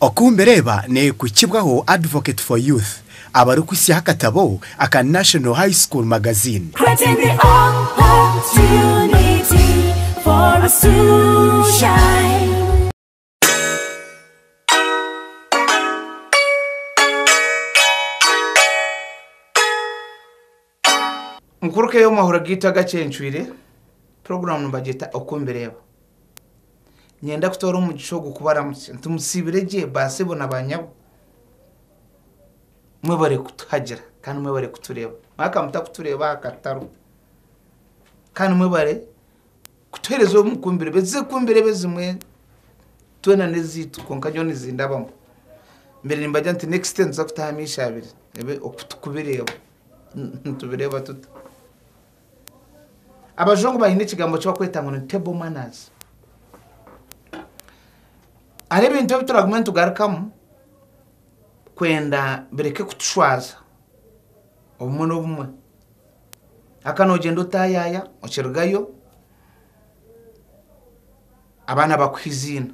Oku mbireeba nekuhikibwaho Advocate for Youth abarikuhisyaho akatabo aka National High School Magazine. Creating the opportunity for us to shine. Nkuruka ey'omu mahuro gaitu agacencwire, puroguramu nibagyeta Oku Mbireeba. Niinyenda kutoora omugisha ogu kubaramutsya nti musiibire gye baasebo na baanyabo. Mwebare kutuhagira kandi mwebare kutureeba. Mwaka mutakutureeba aha kataro. Kandi mwebare kutuheereza omu Ku Mbireeba. Ezi z'Oku Mbireeba ezimwe twena n'ezaitu kwonka nyowe nizindabamu. Mbaire nimbagira nti next time tuza kutaho amaisho abiri ebe Oku Kubireeba. nitubireeba tuta abajungu baine ekigambo eki bakweta ngu ni table manners ari ebintu ebi turagume nitugarukamu kwenda bireke kutushwaza obumwe n'obumwe aka noogyenda otayaya okirugayo abaana bakuha eiziina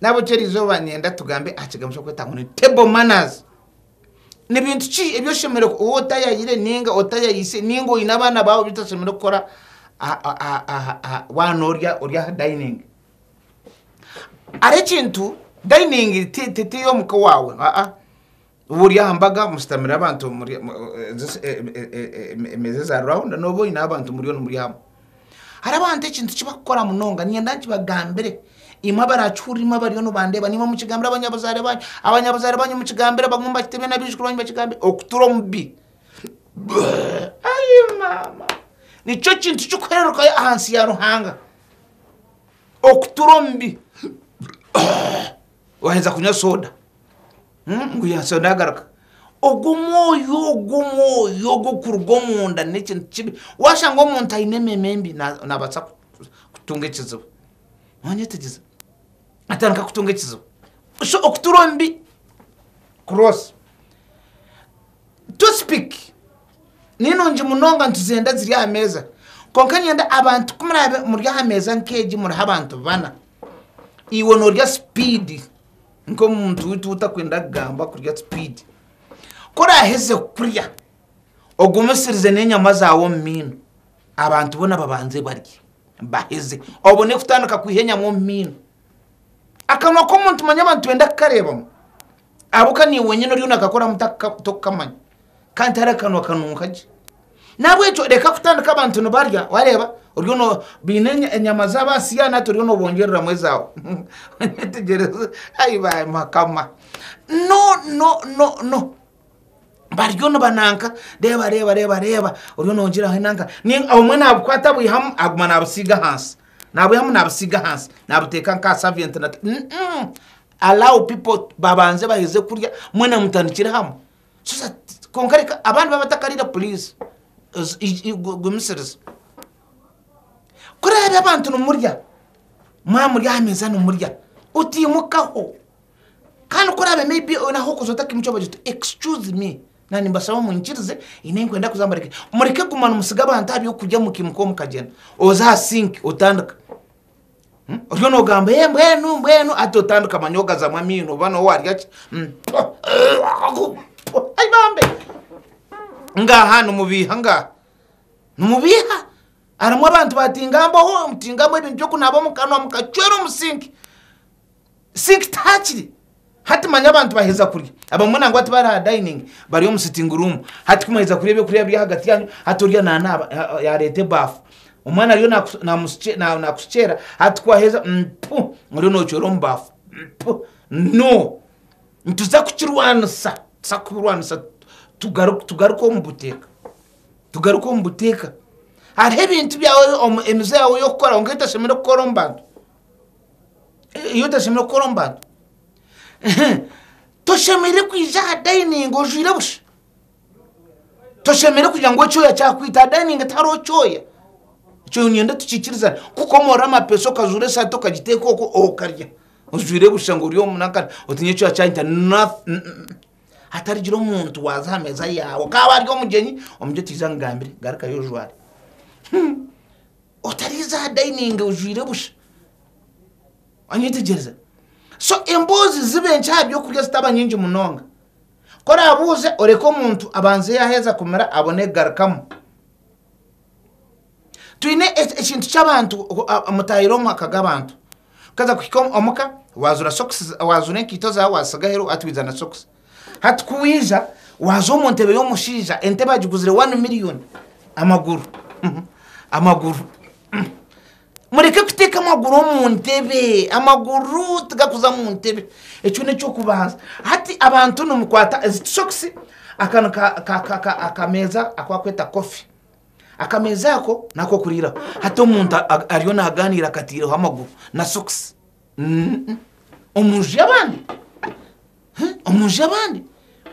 Nahabweki erizooba niinyenda tugambe aha kigambo ekirikwetwa ngu ni table manners. Ni bintu ki ebi oshemereire ku- ou otayayire ninga otayayise ninga oine abaana baawe ebi toshemereire kukora aha- aha- aha- aha- waaba noorya ori aha dining. Hariho ekintu dining ti- ti- ti ey'omuka owaawe aa. Oba ori aha mbaga mushutamire abantu emeeza eza rawunda noba oine abantu muriyo nimurya hamwe hariho abantu ekintu kibakukora munonga niinyenda nkibagambire imwe abarakihurire imwe abariyo nibandeeba nimwo mukigambire abanyabuzaare banyu abanyabuzaare banyu mukigambire bamwe mubakite beene abaijukuru banyu bakigambire okutura omu bi ayi maama nikyo kintu kikuheerukayo ahansi ya Ruhanga okutura omu bi. Waheza kunywa soda ngu ya soda agaruka. Ogwo omwoyo ogwo omwoyo ogwo kuruga omunda n'ekintu kibi. Washanga omuntu aine ememe mbi na- nabaasa ku- kutunga ekizibu. Nonyetegyeza? Atandika kutunga ekizibu. So okutura omu bi kuroosa. Toothpick ni nungi munonga nituzenda ziri aha meeza. Kwonka nyenda abantu ku muraabe muri aha meeza nk'egi muriho abantu bana, iwe norya sipiidi nk'omuntu witu wutakwenda kugamba kurya sipiidi ku oraheza kurya ogumisirize n'enyama zaawe omu maino abantu boona babanze barye baheze obone kutandika kwiha enyama omu maino akanwa k'omuntu manya abantu nibenda kukareebamu. Ahabw'okuba niiwe wenyini oriyo nakakoramu tokukamanya, kandi tihariho akanwa kanunka gye. Nahabw'ekyo reka kutandika abantu nibarya, wareeba oriyo baine enyama zaabo aha siyaani hati oriyo nobongyereramu ezaawe. Wetegyereze, ai Mukama! Bariyo nibananka, reeba reeba reeba reeba, oriyo nogira enanka, obumwe nabukwata abwihamu aguma nabusiiga ahansi, nabwihamu nabusiiga ahansi, nabuteeka nk'aha saventi. Allow people babanze baheze kurya mwena mutandikire hamwe so that kwonka reka abandi baaba batakariire please gumisiriza kuraabe abantu nimurya mwamurya aha meeza nimurya otaimukaho kandi kuraabe may be oine ahu orikuza otakaimuki obagira oti excuse me na nimbasaba munyikirize haine ei nikwenda kuza mbareke mureke kuguma nimutsiga abantu aha by'okurya mukaimuka omukagyenda oze aha sink otandika. Oriyo nogamba ee mbwenu mbwenu hati otandika manya ogazamu amaino oba nowe warya ki Ai bambi ngaha nimubiiha ngaha nimubiiha harimu abantu batingambaho mutingambaho ebintu byokunaaba omukanwa mukacwera omu sinki Sikita hakiri hati manya abantu baheza kurya abamwe nangwa tibari ha dining bari omu sitting room hati kumwaheza kurya ebyokurya biri ahagati yanyu hati orya nanaaba yareta ebaafu omwana ariyo nakushukyera hati kwaheza mpu oriyo nocwera omu baafu mpu no nituza kukirwanisa tuza kubirwanisa tugaruke omu buteeka tugaruke omu buteeka hariho ebintu byawe emize yawe eyokukora kwonka etashemeriire kukora omu bantu. ei otashemereire kukora omu bantu toshemereire kwija aha dayiningi ojwaire busha toshemereire kugira ngu ekyoya kyakwita aha dayiningi tihariho kyoya ekyo niinyenda tukikirizane kukomorora amapeesa okazuura esaati okagiteeka okwo okarya ojwaire busha ngu ori omu nakara oti ngu ekyoya kyanyita nothing hatarigira omuntu waaza aha meeza yaawe kaaba ari omugyenyi omugyenyi tihaija amugambire garukayo ojware. Otariize aha dayiningi ojwaire busha. Wanyetegyereza? So emboozi zibe enkye aha by'okurya zitaba nyingi munonga. Ku oraabuuze, oreke omuntu abanze yaaheza kumira abone kugarukamu. Twine ekintu ky'abantu mutaahire omu maka g'abantu. Okaza kuhika omuka, waazuura sokisi, waazuura enkaito zaawe waazitsiga aheeru hati waija na sokisi. Hati ku waija, waaza omu ntebe y'omushaija, entebe agiguzire wani miriyoni. Amaguru. Amaguru. Mureke kuteeka amaguru omu ntebe. Amaguru tigakuza mu ntebe. Ekyo n'eky'okubanza. Hati abantu nimukwata ezi tishokisi, akanu ka, ka, ka, ka, akameeza aku bakweta kofi. Akameeza ako n'ak'okuriiraho. Hati omuntu a, a, ariyo naagaaniira akataireho amaguru na sokisi. omu nju y'abandi omu nju y'abandi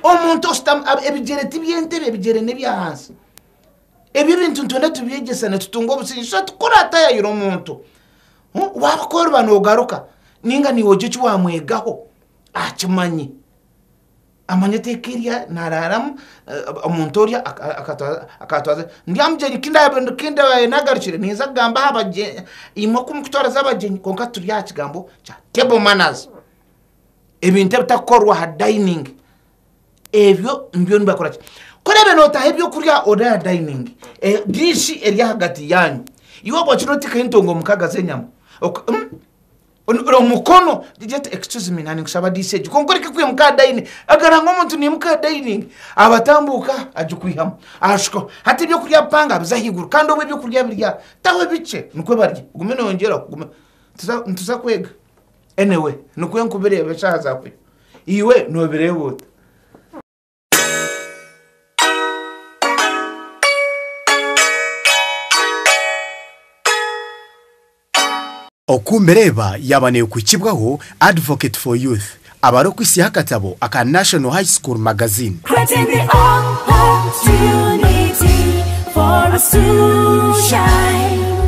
omuntu oshutami ab- ebigyere ti by'entebe ebigyere n'ebyahansi ebyo ebintu nitwenda tubyegyesa nitutunga obusingye so tikuraatayayira omuntu Huh? waabikooreba noogaruka ninga niiwe ogye eki waamwegaho aha kimanyi Amanya eteeka eri naaraaramu, omuntu orya akaatwaza. Ndi aha mugyenyi ki ndaabaire naagarukire, ninza kugamba aha bagyenyi, imwe ku mukutwariza abagyenyi kwonka turi aha kigambo kya table manners. Ebintu ebitakukorwa aha dayiningi, ebyo nibyo nibakora ki? Ku oraabe nootaha ebyokurya ori aha dayiningi, diishi eri ahagati yaanyu, iwe oba okira oteekaho entonga mukaaga z'enyama. omukono get excuse me nani nkushaba disi egi kwonka oreke kwimuka aha dining agaranga omuntu nimuka aha dining abatambuka agikwihamu ashukaho hati ebyokurya bipanga biza ahaiguru kandi obu ebyokurya biri aha taho ebikye nikwo barya ogume noyongyeraho ogume nituza kwega anyway nikwo nkubireba eshaaha zakwiha iwe nobireeba ota. Oku mbireeba yaaba neekwikibwaho Advocate for Youth abare okwitsyaho akatabo aka National High School Magazine. Creating the opportunity for us to shine.